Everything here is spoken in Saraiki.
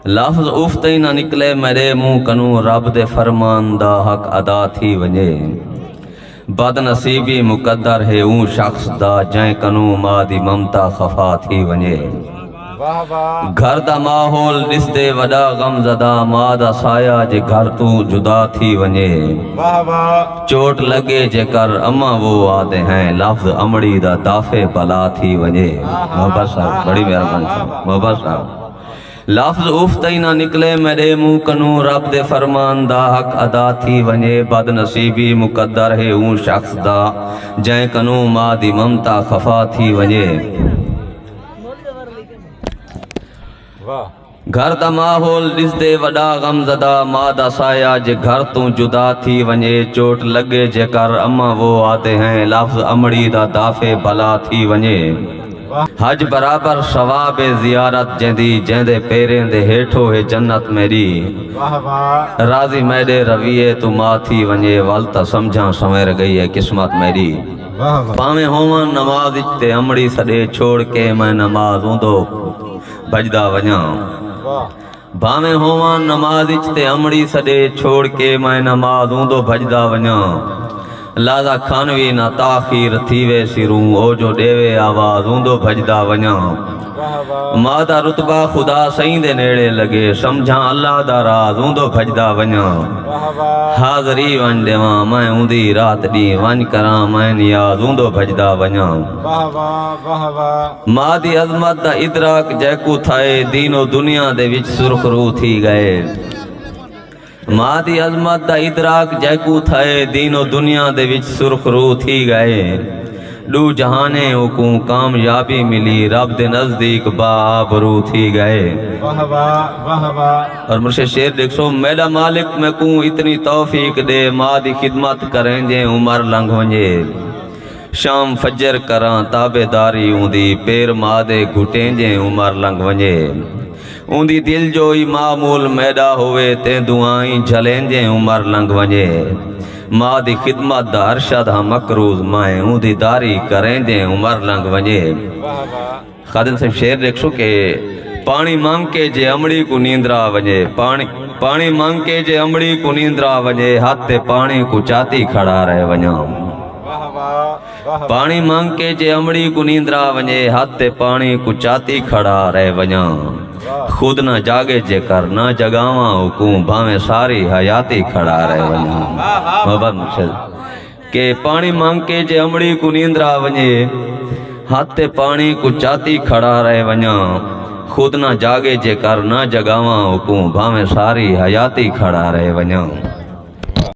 لفظ اف تئیں نہ نکلے میݙے منہ کنوں رب دے فرمان دا حق ادا تھی ونڄے۔ بد نصیبی مقدر ہے اوں شخص دا جئیں کنوں ماء دی ممتا خفا تھی ونڄے۔ گھر دا ماحول ݙسدے وݙا غم زدہ ماء دا سایہ جے گھر توں جدا تھی ونڄے۔ چوٹ لڳے جیکر اماں وہ آہدے ہیں لفظ امڑی دا دافع بلا تھی ونڄے۔ محبت صاحب بڑی مہربانی صاحب محبت صاحب۔ لفظ اف تئیں نہ نکلے میڈے منہ کنوں رب دے فرمان دا حق ادا تھی ونجے بد نصیبی مقدر ہے اوں شخص دا جئیں کنوں ما دی ممتا خفا تھی ونجے۔ گھر دا ماحول ڈسدے وڈا غم زدہ ما دا سایہ جے گھر توں جدا تھی ونجے چوٹ لگے جے کر اماں وو آدے ہیں لفظ امڑی دا دافع بھلا تھی ونجے۔ حج برابر ثواب زیارت جیندی جیندے پیریں دے ہیٹھو ہے جنت میڈی راضی میڈے رویے توں ما تھی ونجے ول تاں سمجھاں سنویر گئی ہے قسمت میڈی پاویں ہوواں نماز اچ تے امڑی سڈے چھوڑ کے میں نماز اوندو بھجدا ونجاں بھانویں ہوواں نماز اچ تے امڑی سڈے چھوڑ کے میں نماز اوندو بھجدا ونجاں لازا کھانوی نہ تاخیر تھی ویسی روں او جو ڈیوے آواز اوندو بھجدا ونجاں ما دا رتبہ خدا سئیں دے نیڑے لگے سمجھاں اللہ دا راز اوندو بھجدا ونجاں حاضری ونج ڈیواں میں اوندی رات ڈی ونج کراں میں نیاز اوندو بھجدا ونجاں ماء دی عظمت دا ادراک جیکوں تھئے دین و دنیا دے وچ سرخ رو تھی ڳئے ماء دی عظمت دا ادراک جیکوں تھئے دین و دنیا دے وچ سرخ رو تھی ڳئے ڈو جہانے اوکوں کامیابی ملی رب دے نزدیک با آبرو تھی ڳئے واہ واہ واہ واہ اور مرشد شیر دیکھو میڈا مالک میں کوں اتنی توفیق دے ماں دی خدمت کریں جے عمر لنگھ ونجے شام فجر کراں تابع داری اوندی پیر ماء دے گھٹیں جیں عمر لنگھ ونجے اوندی دل جوئی ماء مول میڈا ہووے تیں دعائیں جھلیں جیں عمر لنگھ ونجے ماء دی خدمت دا ارشد ہاں مقروض مائیں اوندی داری کریں جیں عمر لنگھ ونجے خادم صاحب شعر ڈیکھسو کہ پانی مانگ کے جے امڑی کو نیندرا ونجے پانی پانی مانگ کے جے امڑی کو نیندرا ونجے ہاتھ تے پانی کو چاتی کھڑا رہ ونجاں پانی مانگ کے جے امڑی کو نیندرا ونجے ہاتھ تے پانی کو چاتی کھڑا رہ ونجاں خود نہ جاگے جے کر نہ جگاواں حکوم بھاویں ساری حیاتی کھڑا رہ ونجاں محبت مقصد کہ پاݨی منگ کے جے امڑی کوں نیندرا ونڄے ہتھ تے پاݨی کوں چاتی کھڑا رہ ونڄاں خود نہ جاڳے جے کر نہ جڳاواں اوکوں بھانویں ساری حیاتی کھڑا رہ ونڄاں۔